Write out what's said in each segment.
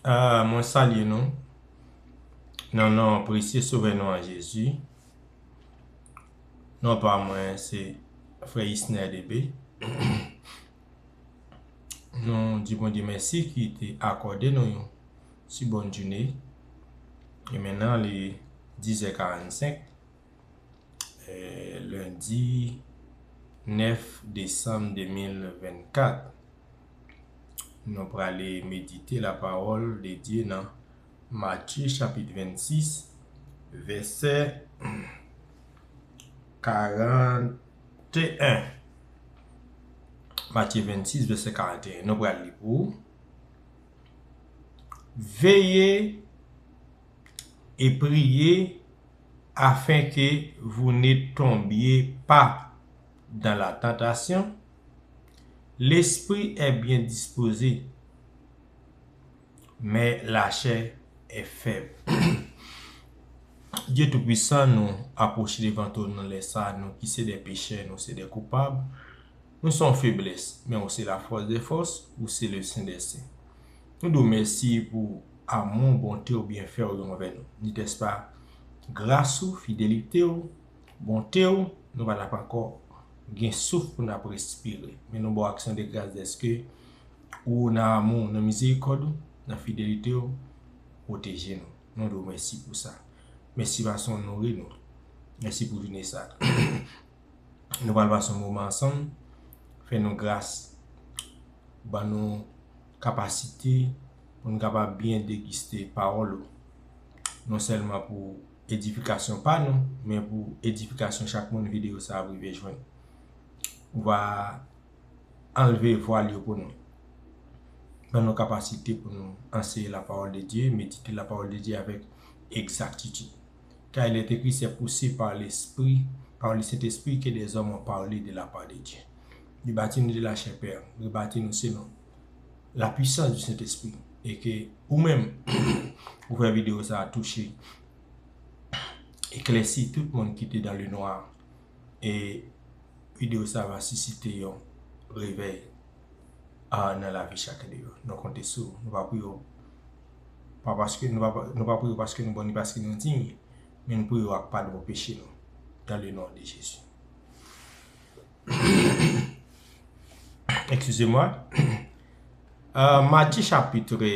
Ah mwen salye nou nan nan presye sove nou an Jezi nan pa mwen se frè Isner DB nou di mwen di mèsi ki te akòde nou yon si bon djine e men nan li 10 è 45 lundi 9 Desanm 2024 Nou prale medite la pawòl de Dye nan Matye chapit 26 vèsè 41. Matye 26 vèsè 41. Nou prale li pou. Veye e priye afenke vou ne tonbye pa dan la tantasyon. Lespri è byen dispoze, men lachè è fèb. Dye Toupuisan nou apwoche devan twòn nan lè sa a, nou ki se de pechè, nou se de koupab, nou se yon feblès, men ou se lafòs dè fòs, ou se le sen dè sen. Nou di w mèsi pou amou, bonte w, byenfè w yo anvè nou. Ni tès pa, gras ou, fidelite w. Bonte w, nou pa tap ankò gen souf pou nap respire, men nou ba w aksyon de gras dèske Ou, nan amou w, nan mizerikòd Ou, nan fidelite W, pwoteje nou. Nou di W mèsi pou sa. Mèsi paske W nouri nou. Mèsi pou jounen sa. Nou pral pase yon moman ansanm, fè nou gras, ban nou kapasite pou nou kapab byen degiste pawòl Ou, non sèlman pou edifikasyon pa nou men pou edifikasyon chak moun video sa ap rive jwenn. Ou va anlve vwal yo pou nou. Ban nou kapasite pou nou anseye la pawòl de Dye, medite la pawòl de Dye avèk egzaktitid. Ka il est écrit c'est poussé par l'esprit, par le Saint Esprit que des hommes ont parlé de la part de Dieu. Rebati nou de la chè Pè, rebati nou se nou. la puissance du saint esprit e ke ou menm ou fè video sa touche eklèsi tout moun ki te dans le noir e video sa va suscite yon revèy nan lavi chak de yo nou konte sou ou nou pa pou yo pa paske nou pa nou pa pou yo paske nou bon ni paske nou digne men nou pou yo ak padon peche nou dans le nom de Jesus. Ekskize mwen. Matye chapitre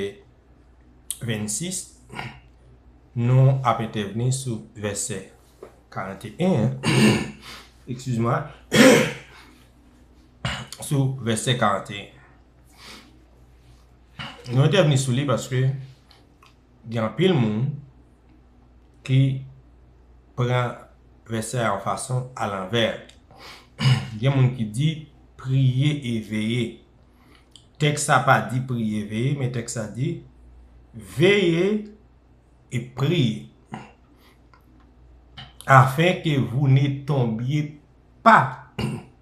26, nou ap entèvni sou vèsè 41. Ekskize mwen. Sou vèsè 41. Nou entèvni sou li paske. gen anpil moun ki pran vèsè a yon fason alanvè. Gen moun ki di, priye e veye. Tèks la pa di priye e veye, men tèks la di, veye e priye. Afenke vou ne tonbye pa.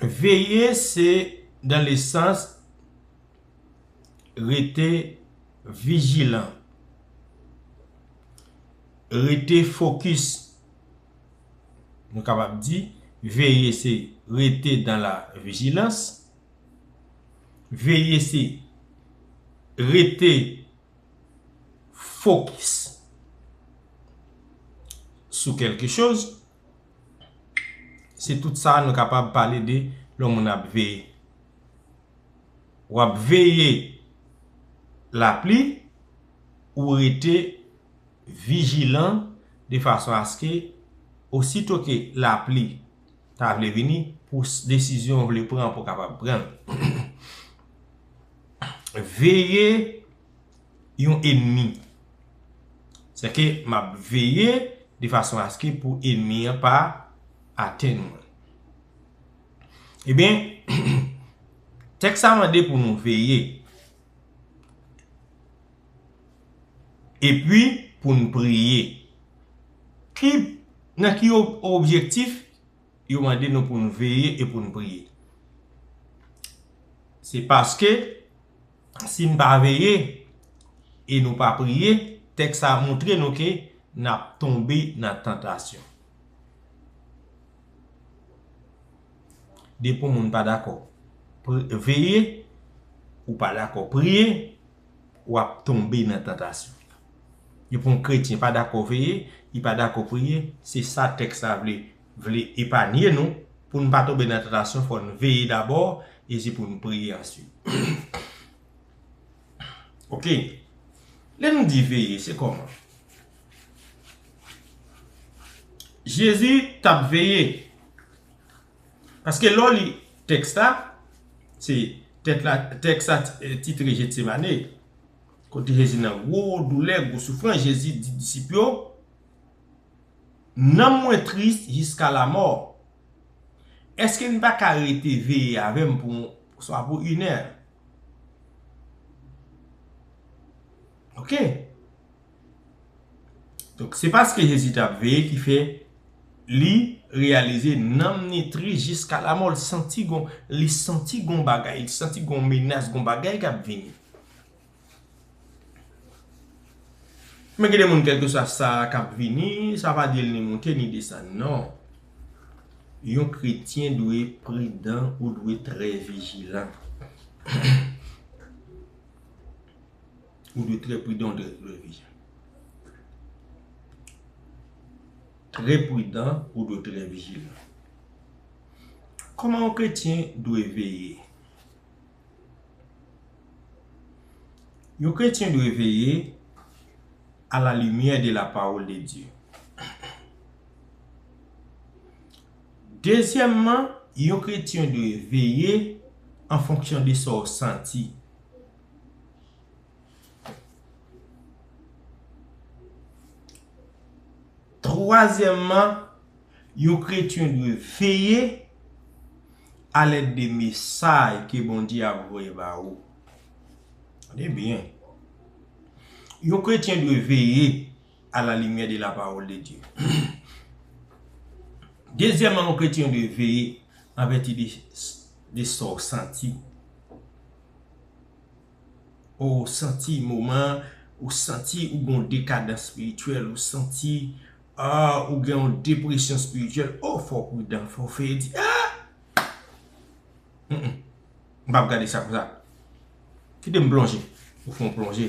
Veye se dan le sans rete vijilan, rete fokis. Nou kapab di, veye se rete dan la vijilans, veye se rete fokis sou kelke choz. Se tout sa nou kapab pale de lò moun ap veye. W ap veye lapli, ou rete vijilan de fason aske osito ke lapli ta vle vini pou desizyon ou vle pran pou kapab pran. Veye. yon enmi. Sè ke m ap veye de fason aske pou enmi an pa atenn mwen. Ebyen, tèks sa mande pou nou veye. Epi pou nou priye. Ki, nan ki objektif yo mande nou pou nou veye e pou nou priye? Se paske, si n pa veye e nou pa priye, tèks sa a montre nou ke n ap tonbe nan tantasyon. Depi yon moun pa dakò veye, ou pa dakò priye, w ap tonbe nan tantasyon. Depi yon kretyen pa dakò veye, li pa dakò priye, se sa tèks la vle vle epanye nou, pou n pa tonbe nan tantasyon fò n veye dabò epi pou n priye answit. Ok, lè nou di veye se kòman? Jezi t ap veye, paske lè w li tèks la, se tèks la titre Jetsemane, kote Jezi nan gwo doulè, gwo soufrans, Jezi di disip yo, Nanm mwen tris jiska lamò. Eske n pa ka rete veye avè m pou swa pou inè? Ok. Donk se paske Jezi t ap veye ki fè li reyalize nanm ni tris jiska lamò. Li santi gon bagay, li santi gon menas, gon bagay k ap vini. Men gen de moun kèlkeswa sa k ap vini, sa pa di l ni monte ni desann non. Yon kretyen dwe pridan, ou dwe trè vijilan. Ou dwe trè pridan, ou dwe trè vijilan. Trè pridan, ou dwe trè vijilan. Kòman yon kretyen dwe veye? Yon kretyen dwe veye a la limyè de la pawòl de Dye. Dezyèmman, yon kretyen dwe veye an fonksyon de sa w santi. Twazyèmman. Yon kretyen dwe veye alèd de mesay ke Bondye ap voye ba ou. Tande byen. Yon kretyen dwe veye a la limyè de la pawòl de Dye. Dezyèman, yon kretyen dwe veye an vèti de sa w santi. O ou santi moman an, ou santi ou gen yon dekadans spirityèl, ou santi ah ou gen yon depresyon spirityèl, o fò w pridan, fò w fè di ah Humm m pap gade sa konsa, kite m plonje, ou fè yon plonje,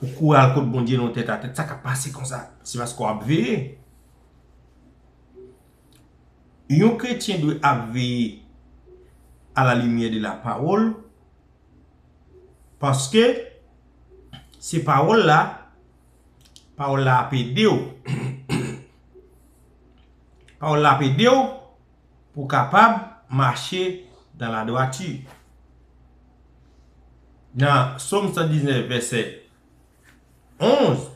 ou kouri al kot Bondye non tèt atè, sa kap pase konsa, se paske w ap veye. Yon kretyen dwe ap veye a la limyè de la pawòl. Paske se pawòl la, pawòl la ap ede w. Pawòl la ap ede w pou w kapab mache dan la dwati. Nan Som 119 vèsè 11,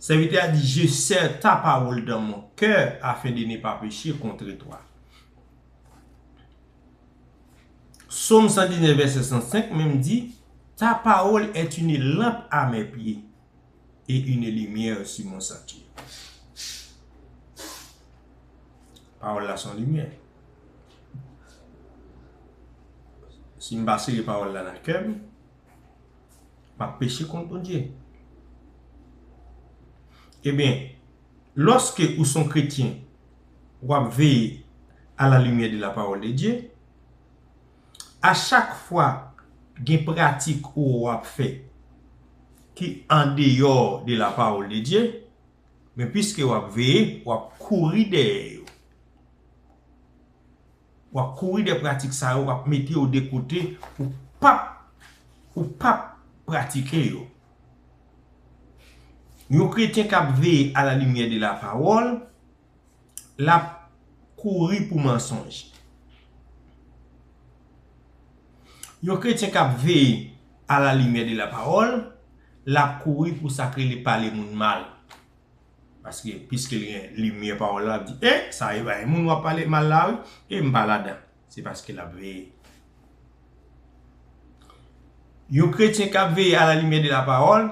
sèvitè a di, Je sè ta pawòl dan mon kè afen de ne pa peche kontre twa. Som 119 vèsè 105 menm di, Ta pawòl è une lanp a mè pye, e une limyè su mon santye. Pawòl la son limyè. Si m pa sere pawòl la nan kè m, m ap peche kont Bondye. Ebyen, lòske ou son kretyen, wap veye a la lumière de la parole de Dieu a chak fwa gen pratik ou wap fè ki andeyò de la parole de Dieu men pwiske wap veye wap kouri dèyè yo wap kouri dèyè pratik sa yo wap mete yo de kote ou pap ou pap pratike yo yon kretyen kap veye a la lumière de la parole lap kouri pou mansonj. Yon kretyen kap veye a la limyè de la pawòl, lap kouri pou sak rele pale moun mal. Paske piske li gen limyè pawòl la, lap di, e, sa e bay moun wap pale mal la wi, e m pa ladan. Se paske lap veye. Yon kretyen kap veye a la limyè de la pawòl,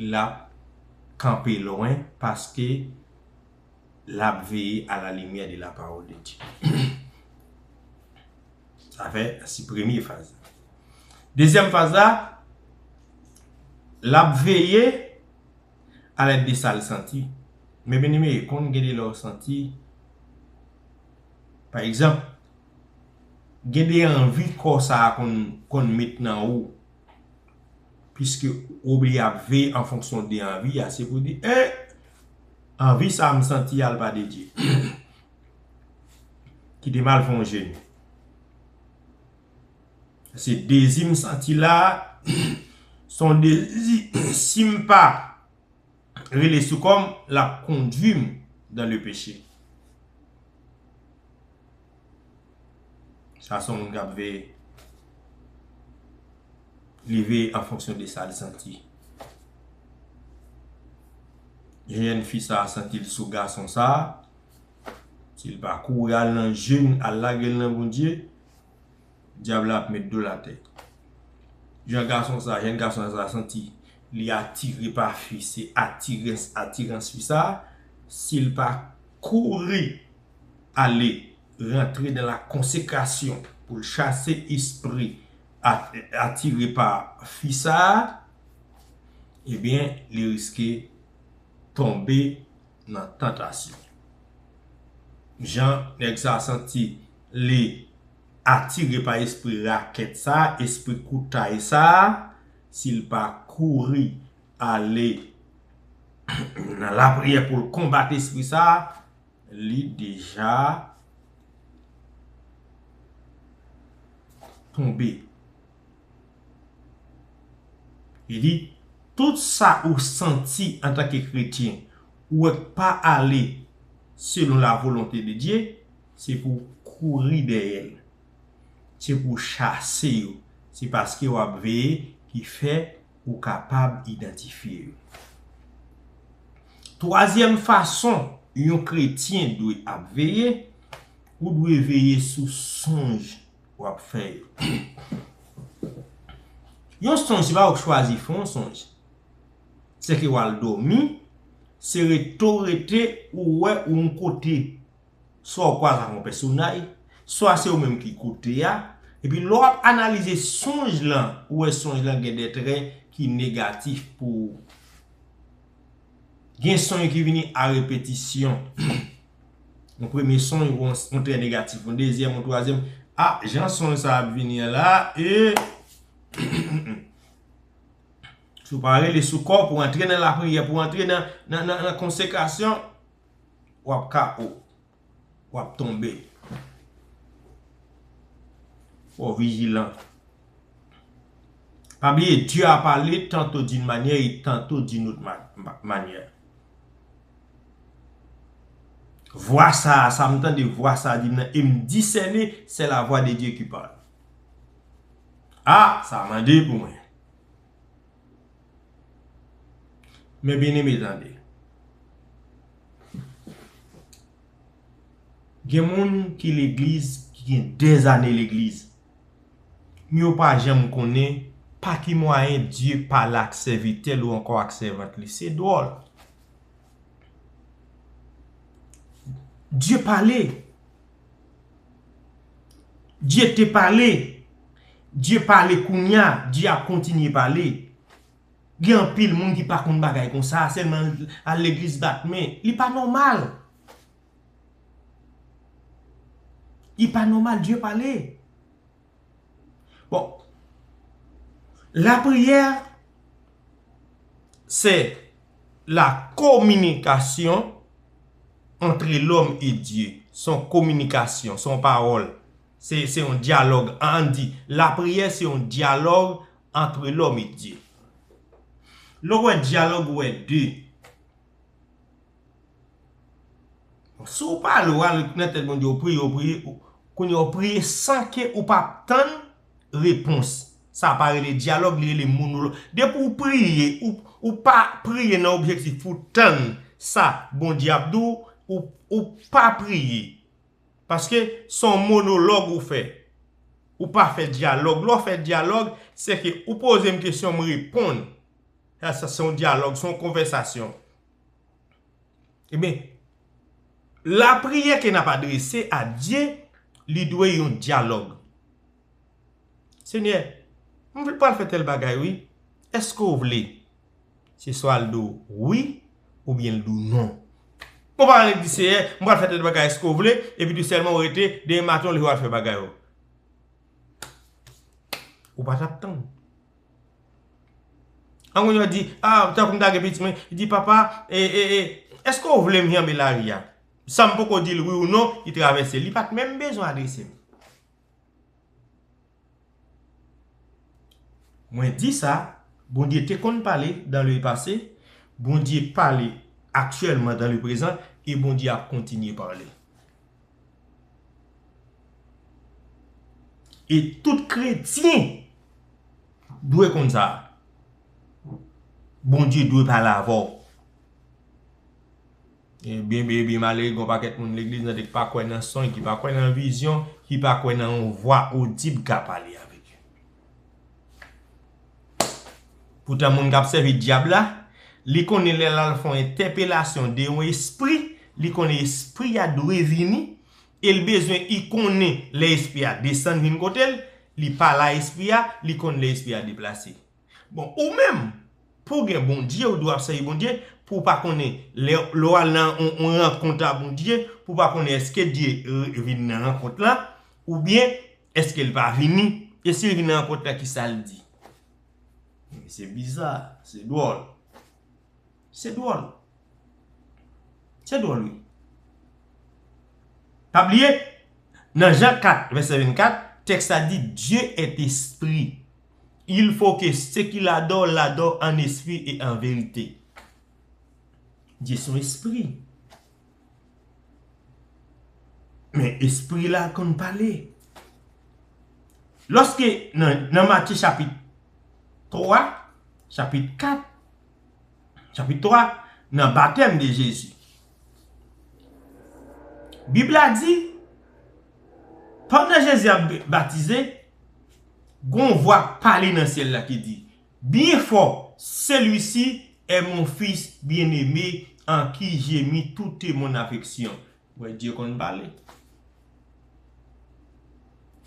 lap kanpe lwen paske lap veye a la limyè de la pawòl de Dye. Sa fè si premye faz la. Dezyèm faz la, lap veye a lèd de sal santi. Men byeneme, konn gen de lè ou santi, pa egzanp, Gen de anvi kò sa a konn met nan ou, piske ou oblije ap veye an fonksyon de anvi a, se pou di, eh! Anvi sa a m santi a l pa de Dye. Kite m al fè yon jeni. Se dezi m santi la a, se yon dezi, si m pa. rele sou kòm lap kondwim dan le peche. Sa son moun kap veye. Li veye an fonksyon de sal santi. Jèn fi sa santil sou gason sa, sil pa kouri al nan jeun al lagel nan Bondye, Dyab la ap met dol atè. Jan gason sa, jèn gason sa santi li atire pa fi, se atirens, atirans fi sa, si l pa kouri ale rantre nan la konsekrasyon pou l chase espri atire pa fi sa, ebyen li riske tonbe nan tantasyon. Jan nèg sa santi li atire pa espri rakèt sa, espri koutay sa, si l pa kouri ale nan lapriyè pou l konbat espri sa, li deja tonbe Li di, Tout sa ou santi antanke kretyen, ou wè k pa ale selon lavolonte de Dye, se pou w kouri dèyè l. Se pou w chase yo. Se paske w ap veye ki fè ou kapab idantifye yo. Twazyèm fason yon kretyen dwe ap veye, ou dwe veye sou sonj. wap fè yo. Yon sonj se pa ou k chwazi fè yon sonj. Se ke wal domi, se rete w rete ou wè ou yon kote. Swa ou kwaze ak yon pèsonay, swa se ou menm ki kote a. E pi lè wap analize sonj lan, ou wè sonj lan gen de trè ki negatif pou ou. Gen sonj ki vini a repetisyon. Yon premye son yon wè yon trè negatif, yon dezyèm, yon twazyèm, a jan son sa ap vini an la, ee. Si w pa rele sou kò w pou w antre nan lapriyè, pou w antre nan konsekrasyon, w ap ka o. W ap tonbe. Fò w vijilan. Pa bliye, Dye a pale tanto di yon manyè e tanto di yon ot manyè. Vwa sa a, sa m tande vwa sa a di m nan, e m disène se lavwa de Dye ki pale. A! Sa mande pou mwen. Men byeneme tande. Gen moun ki legliz, ki gen dèzane legliz. M yo pa janm konnen pa ki mwayen Dye pale ak sèvitè l ou ankò ak sèvant li. Se dwòl. Dye pale. Dye te pale. Dye pale kounya. Dye ap kontinye pale. Gen anpil moun ki pa konn bagay konsa. Sèlman al legliz bat men. Li pa nòmal. Li pa nòmal Dye pale. Bon lapriyè se la kominikasyon antre lòm e Dye. Se yon kominikasyon, se yon pawòl, se yon dyalòg. An di lapriyè se yon dyalòg antre lòm e Dye. Lè w wè dyalòg ou wè 2. Si w pa ale w al nan tèt Bondye w priye w priye kounye a w priye san ke ou pa tann repons sa pa rele dyalòg li rele monològ depi w priye ou pa priye nan objektif pou w tann sa Bondye ap di w ou pa priye paske se yon monològ ou fè ou pa fè dyalòg lè w fè dyalòg se ke ou poze m kesyon m reponn Sa se yon dyalòg, se yon konvèsasyon. Ebyen, lapriyè ke n ap adrese a Dye, li dwe yon dyalòg. Senyè, m vle pral fè tèl bagay wi, èske ou vle? Se swa l di w wi, oubyen l di w non. Ou pa annik di Seyè, m pral fè tèl bagay èske ou vle? Epi tou sèlman ou rete, demen maten ou leve w al fè bagay ou. Ou pa t ap tann. An moun yo di, a, tankou m ta gen pitit mwen, li di papa, e, e, e, eske ou vle m janbe lari a? San m poko di l wi ou non, li travèse, li pa t menm bezwen adrese m. Mwen di sa, Bondye te konn pale dan le pase, Bondye pale aktyèlman dan le prezan, e Bondye ap kontinye pale. E tout kretyen dwe konn sa. Bondye dwe pale avè w. E byen byen byen malere gon pakèt moun legliz nan dek pa kwè nan sony, ki pa kwè nan vizyon, ki pa kwè nan yon vwa odib ka pale avè l. Poutan moun k ap sèvi Dyab la, li konnen lè l al fè yon entèpelasyon de yon espri, li konnen espri a dwe vini e l bezwen li konnen lè espri a desann vin kote l, li pale a espri a, li konnen lè espri a deplase. Bon, ou menm, pou w gen Bondye, ou dwe ap sèvi Bondye, pou w pa konnen lè w al nan yon rankont a Bondye, pou w pa konnen èske Dye vin nan rankont la, oubyen, Eske l pa vini? E si l vin nan rankont la ki sa l di? Se biza, se dwòl. Se dwòl. Se dwòl wi. Pa bliye, nan Jan 4, vèsè 24, tèks la di, Dieu est esprit. Il faut que ceux qui l'adorent l'adorent en esprit et en vérité. Dieu son espri. Men espri la konn pale. Lòske nan Matye chapit 3, chapit 4, chapit 3, nan batèm de Jezi. Bib la di, pandan Jezi ap batize, gon vwa pale nan syèl la ki di, Byen fò, Celui-ci est mon Fils bien-aimé en qui j'ai mis toute mon affection. Ou wè Dye konn pale.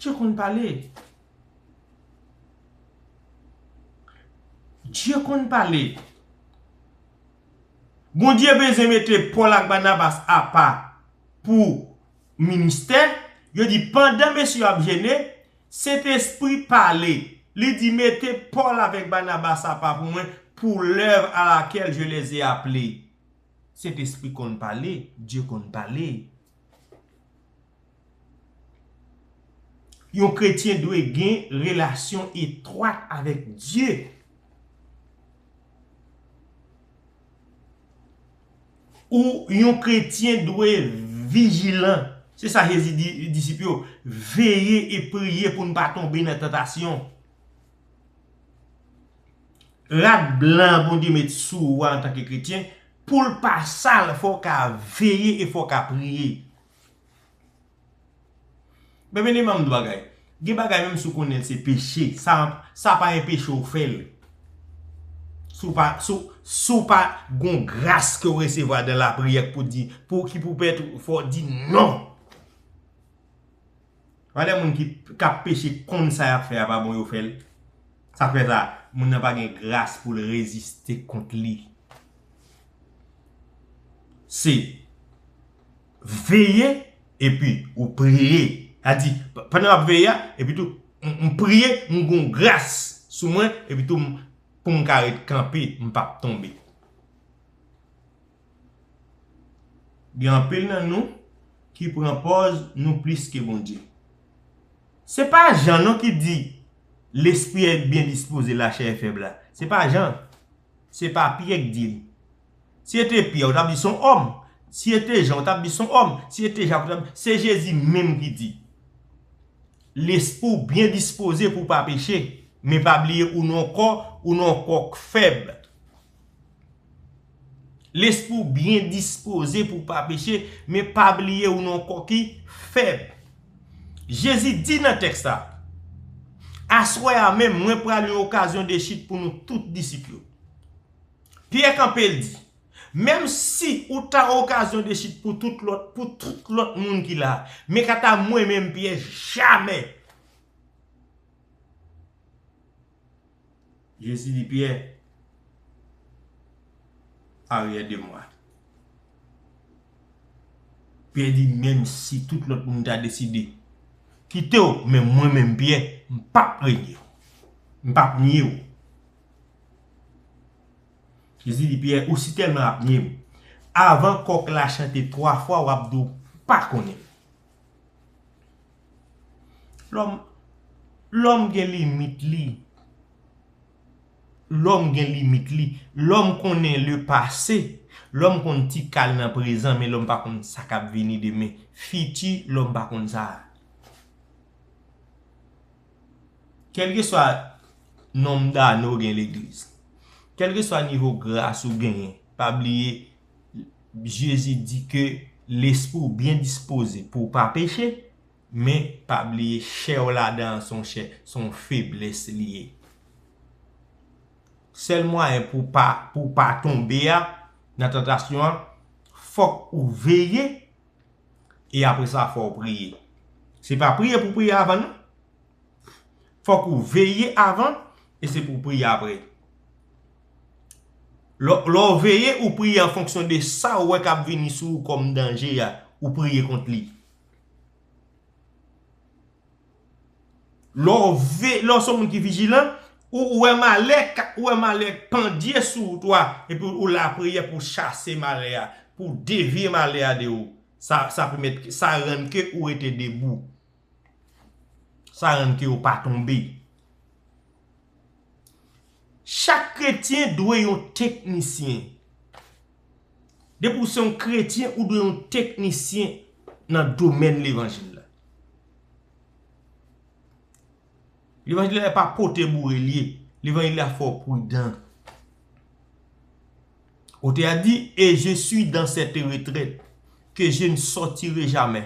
Dye konn pale. Dye konn pale. Bondye bezwen mete Paul ak Barnabas apa pou ministè, yo di pandan mesye yo ap jene, Sentespri pale, li di mete Pòl avèk Banabas apa pou mwen pou lèv a lakèl je lè ze aple. Sentespri konn pale, Dye konn pale. Yon kretyen dwe gen relasyon etwat avèk Dye. Ou, yon kretyen, dwe vijilan. Se sa Jezi di disip yo, Veye e priye pou n pa tonbe nan tantasyon. Rad blan Bondye met sou ou a antanke kretyen, pou l pa sal, fò w ka veye e fò w ka priye. Men men imam 2 bagay. Gen bagay menm si w konnen l se peche, sa pa enpeche w fè l. Si w pa, si w pa gon gras ke w resevwa dan lapriyè k pou di, pou ki pou pèt ou, fò w di non! Valè moun ki kap peche konn sa yap fè a pa bon yo fè l. Sa k fè sa? Moun nan pa gen gras pou l reziste kont li. Se veye epi ou priye. A di, pandan m ap veye a, epi tou, m priye, m gen yon gras sou mwen, epi tou, pou m ka ret kanpe, m pa p tonbe. Gen anpil nan nou ki pran pòz nou plis ke Bondye. Se pa Jan non ki di, Lespri a byen dispoze, lachè e fèb la. Se pa Jan. Se pa Pyè k di l. Si se te Pyè, ou t ap di s on òm. Si se te Jan, ou t ap di s on òm. Si se te Jak, ou t ap. Se Jezi menm ki di, Lespri w byen dispoze pou w pa peche, men pa bliye ou nan yon kò, ou nan yon kò k fèb. Lespri w byen dispoze pou w pa peche, men pa bliye ou nan yon kò ki fèb. Jezi di nan tèks la, Aswè a menm, mwen pral yon okazyon de chit pou nou tout disip yo. Pyè kanpe, l di, Menm si ou ta okazyon de chit pou tout lòt, pou tout lòt moun ki la, men kanta mwen menm, Pyè, jamè! Jezi di Pyè, Aryè de mwa. Pyè di, Menm si tout lòt moun ta deside kite w, men mwen menm Pyè, m p ap renye w. M p ap nye w. Jezi di Pyè, Ou sitèlman ap nye m, avan kòk la chante twa fwa, w ap di w pa konnen m. Lòm Lòm gen limit li Lòm gen limit li Lòm konnen le pase Lòm konn ti kal nan prezan men lòm pa konn sa kap vini demen Fiti lòm pa konn sa Kèlkeswa nonm dane ou gen legliz Kèlkeswa nivo gras ou genyen Pa bliye Jezi di ke lespri w byen dispoze pou w pa peche, men pa bliye chè w ladan an se yon chè, se yon feblès li ye. Sèl mwayen pou w pa tonbe a nan tantasyon an, fòk ou veye e apresa fò w priye. Se pa priye pou w priye avan non. Fòk ou veye avan e se pou w priye apre. Lè w veye, ou priye an fonksyon de sa ou wè k ap vini sou ou kòm danje a, ou priye kont li. Lè w se yon moun ki vijilan, ou wè malè k pandye sou wout ou a epi ou lapriyè pou w chase malè a, pou w devye malè a de ou. Sa rann ke ou rete debou. Sa rann ke yo pa tonbe. Chak kretyen dwe yon teknisyen. Depi ou se yon kretyen, ou dwe yon teknisyen nan domèn levanjil la. Levanjil la e pa pote boure li ye. Levanjil la fè w prudan. Ote a di, E je sui dan sete retrèt, ke je n sòtire jamè.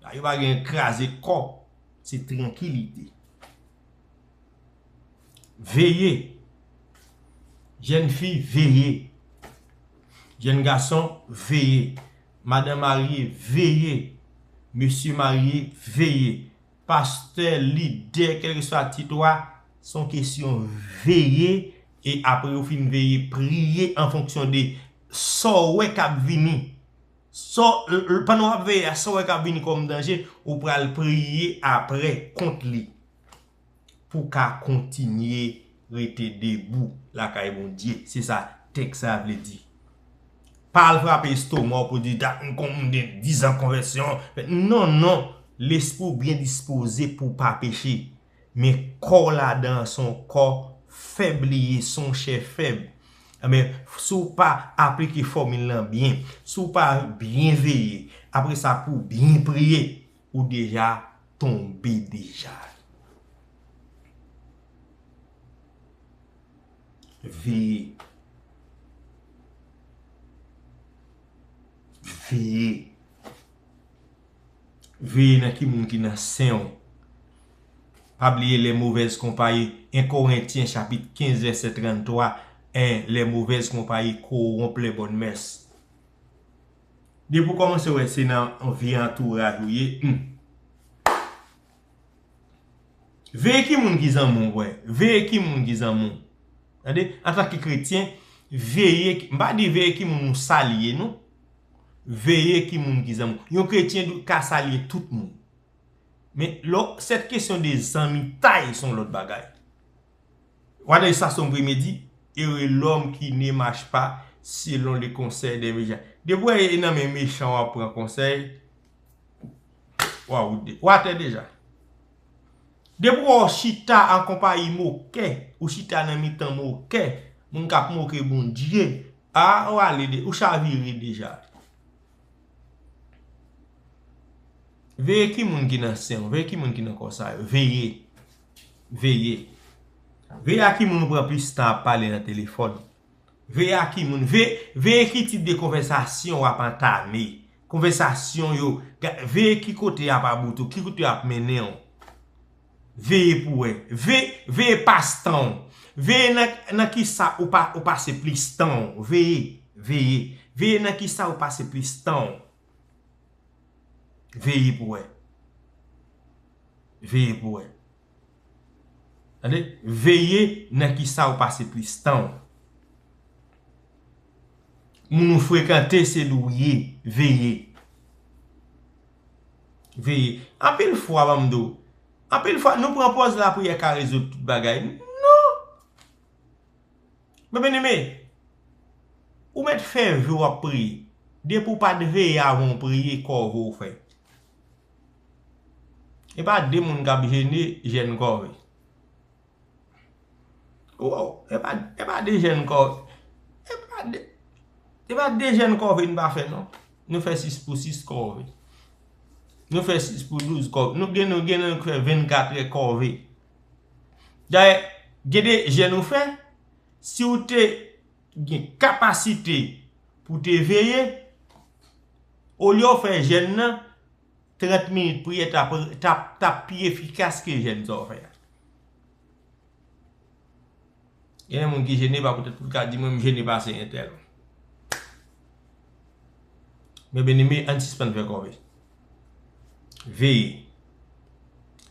La yo pa gen kraze kò, se trankilite. Veye, jèn fi veye, jèn gason veye, madan marye veye, mesye marye veye, pastè, lidè, kèlkeswa tit ou a, se yon kesyon veye e apre ou fin veye, priye an fonksyon de sa ou wè k ap vini Sa w, pandan w ap veye a, sa w wè k ap vini kòm danje, ou pral priye apre kont li pou w ka kontinye rete debou lakay Bondye. Se sa tèks sa a vle di. Pa al frape estoma w pou w di, dat m kon, m gen dizan konvèsyon. Non, non. Lespri w byen dispoze pou w pa peche. Men kò w ladan an son kò fèb li ye, son chè fèb. Anben, si w pa aplike fòmil lan byen, si w pa byen veye, apre sa pou w byen priye, ou deja tonbe deja. Veye. Veye. veye nan ki moun ki nan sen ou. Pa bliye lè movèz konpayi, 1 Korentyen chapit 15 vèsè 33, 1 lè movèz konpayi kowonp lè bòn mès. Depi ou kòmanse wè se nan vi antouraj ou ye, humm. Veye ki moun ki zanmi w wè. Veye ki moun ki zanmi w. Tande, antanke kretyen, veye, m pa di veye ki moun ou salye non. Veye ki moun ki zanmi w. Yon kretyen dwe ka salye tout moun. Men, lò, sèt kesyon de zanmitay son lòt bagay. Wadè sa son premye di, ere lòm ki ne mach pa selon le konsèy de mejan. Depi w wè e nan men mechan w ap pran konsèy. Ou atè deja. Depi ou chita an konpayi mokè, ou chita nan mitan mokè, moun kap moke Bondye, a ou ale de, ou chavire deja. Veye ki moun ki nan sen ou, veye ki moun ki nan kò sa yo, veye, veye. Veye a ki moun ou pran plis tan ap pale nan telefòn. Veye ak ki moun. Veye ki tip de konvèsasyon w ap antame. Konvèsasyon yo. Veye ki kote y ap about ou. Ki kote y ap mennen w. Veye pou wè. Veye pas tan w. Veye nan ki sa ou pase plis tan w. Veye. Veye. Veye nan ki sa ou pase plis tan w. Veye pou wè. Veye pou wè. Tande, veye nan kisa ou pase plis tan ou. Moun ou frekante se li ou ye, veye. Veye. Anpil fwa banm di ou, anpil fwa nou pran pòz lapriyè ka rezoud tout bagay. Non! Men bien aime, ou mèt fè vye w ap priye. Depi ou pat veye avan ou priye, kò ou vo ou fè. E pa de moun kap jene jèn kòve. Woww e pa e pa de jèn kòve e pa de e pa de jèn kòve nou pa fè non. Nou fè 6 pou 6 kòve. Nou fè 6 pou 12 kòve. Nou gen nou gen nou k fè 24 è kòve. Dayè gen de jèn ou fè si ou te gen kapasite pou te veye, olye w fè jèn nan, 30 minit priyè tap pi efikas ke jèn sa w fè a. Genyen moun ki jene pa poutèt pou l ka di mwen m jene pase entèl. Men byeneme ann sispann fè kòve. Veye.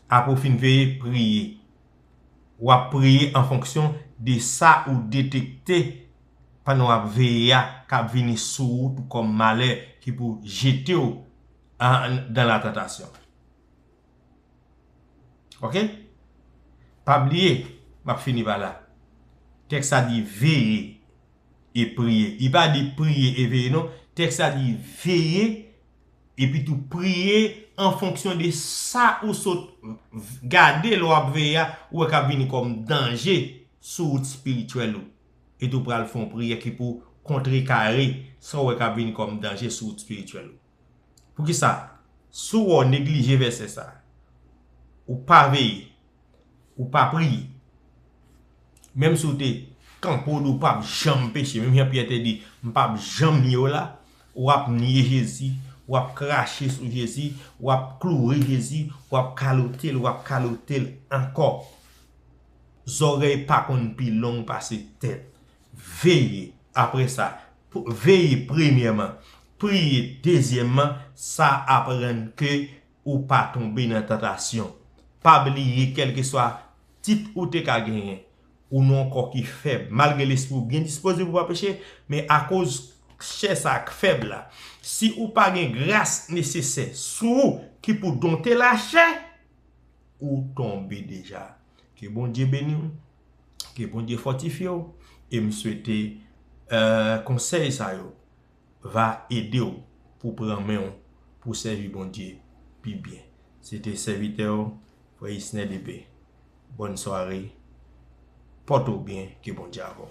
Apre w fin veye, priye. w ap preye an fonksyon de sa ou detekte pandan w ap veye a k ap vini sou ou tou kòm malè ki pou jete w dan la tantasyon. Ok? Pa bliye, m ap fini pa la, tèks la di veye e priye. Li pa di priye e veye non, tèks la di veye Epi tou priye an fonksyon de sa ou sot gade lè w ap veye a, ou wè k ap vini kòm danje sou wout espirityèl ou. Epi tou pral fè yon priyè ki pou kontrekare sa ou wè k ap vini kòm danje sou wout espirityèl ou. Poukisa? Si w wè w neglije vèsè sa a, ou pa veye, Ou pa priye. Menm si w te kanpe w di w pa p janm peche, menm jan Pyè te di, m pa p janm nye w la, w ap nye Jezi, w ap krache sou Jezi, w ap kloure Jezi, w ap kalote l, w ap kalote l ankò. Zòrèy pa konn pi long pase tèt. Veye, apre sa, veye premyèman, priye dezyèmman, sa ap rann ke ou pa tonbe nan tantasyon. Pa bliye kèlkeswa tit ou te ka genyen, ou nan yon kò ki fèb. Malgre lespri ou byen dispoze pou pa peche, men akoz chè sa a k fèb la, si ou pa gen gras nesesè sou ou ki pou donte lachè, ou tonbe deja. Ke Bondye beni w, ke Bondye fòtifye w, e m swete konsèy sa yo. va ede w pou pran men w pou sèvi Bondye pi byen. Se te sèvitè w frè Isner Depay. Bòn sware. Pòte w byen ke Bondye avè w.